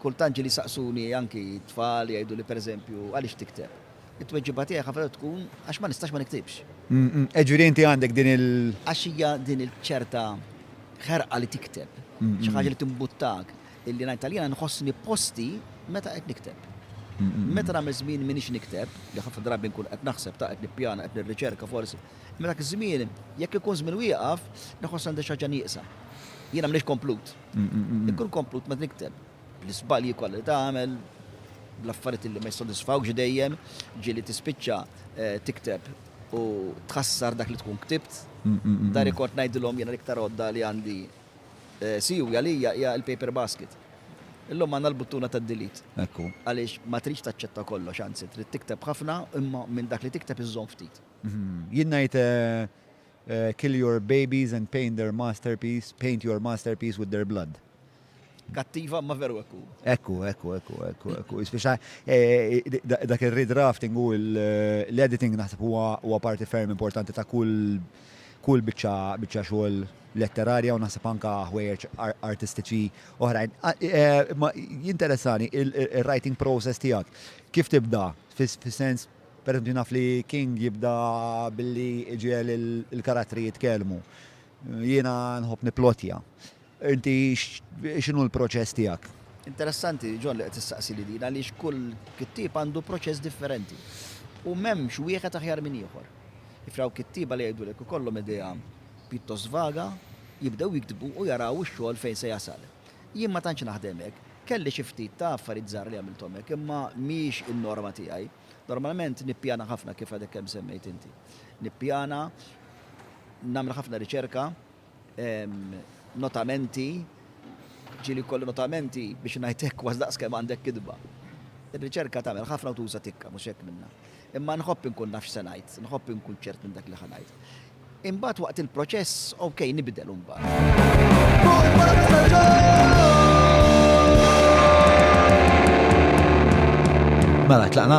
Kultant ġieli jsaqsuni anki t-tfal jgħiduli pereżempju, għaliex tikteb? It-tweġiba tiegħi ħafna drabi tkun, għax ma nistax ma niktibx. Jiġifieri inti għandek din il-. Għax hija din il-ċerta ħerqa li tikteb, xi ħaġa li timbuttak, illi ngħid għalija nħossni posti meta qed nikteb. Meta nagħmel żmien m'iniex nikteb, li ħafna drabi nkun qed naħseb, ta' qed nippjana, qed nirriċerka forsi, imma dak iż-żmien, jekk ikun żmien wieqaf, nħoss għandi xi ħaġa nieqsa. Jiena m'iniex komplut. Ikun komplut ma nikteb. L-isbalji kollha li tagħmel, l-affarijiet li ma jissodisfawx dejjem, ġieli tispiċċa eh, tikteb u tħassar dak li tkun ktibt. Dar ikort ngħidilhom jiena l-iktar għodda li għandi eh, siwi għalija hija l-paper basket. Illum għandna l-buttuna ta' delete. Ekku. Għaliex ma tridx taċċetta kollox, anzi trid tikteb ħafna imma minn dak li tikteb iżżomm ftit. Mhm. Jien ngħid eh, Kill your babies and paint their masterpiece, paint your masterpiece with their blood. Kattiva, imma veru hekk hu. Hekk hu, hekk hu, hekk hu, hekk hu, hekk hu. Jispiċċa eh, da- dak ir-redrafting u l- l-editing naħseb huwa huwa parti ferm importanti ta' kull kull biċċa biċċa xogħol letterarja u naħseb anka ħwejjeġ ar- artistiċi oħrajn. Ah, eh, Ma jinteressani il- il-writing process tiegħek. Kif tibda? Fis- Fis-sens Pereżempju, naf li King jibda billi iġiegħel il-karattri jitkellmu. Jiena nħobb nipplotja. Inti x'inhu l-proċess tiegħek? Interessanti, John, li qed issaqsili din għaliex kull kittieb għandu proċess differenti. U m'hemmx wieħed aħjar minn ieħor. Ifraw kittieba li jgħidulek ikollhom idea pjuttost vaga, jibdew jiktbu u jaraw ix-xogħol fejn se jasal. Jien ma tantx naħdem hekk. Kelli xi ftit ta' affarijiet żgħar li għamilthom hekk, imma mhijiex in-norma tiegħi. Normalment nippjana ħafna kif għadek kemm semmejt inti. Nippjana, nagħmel ħafna riċerka, notamenti, ġieli jkolli notamenti biex ngħid hekk kważi daqs kemm għandek kitba. Ir-riċerka tagħmel ħafna u tuża tikka, mhux hekk minnha. Imma nħobb inkun naf x'se ngħid, nħobb inkun ċert minn dak li ħa ngħid. Imbagħad waqt il-proċess, ok, nibdel imbagħad. Mela tlaqna?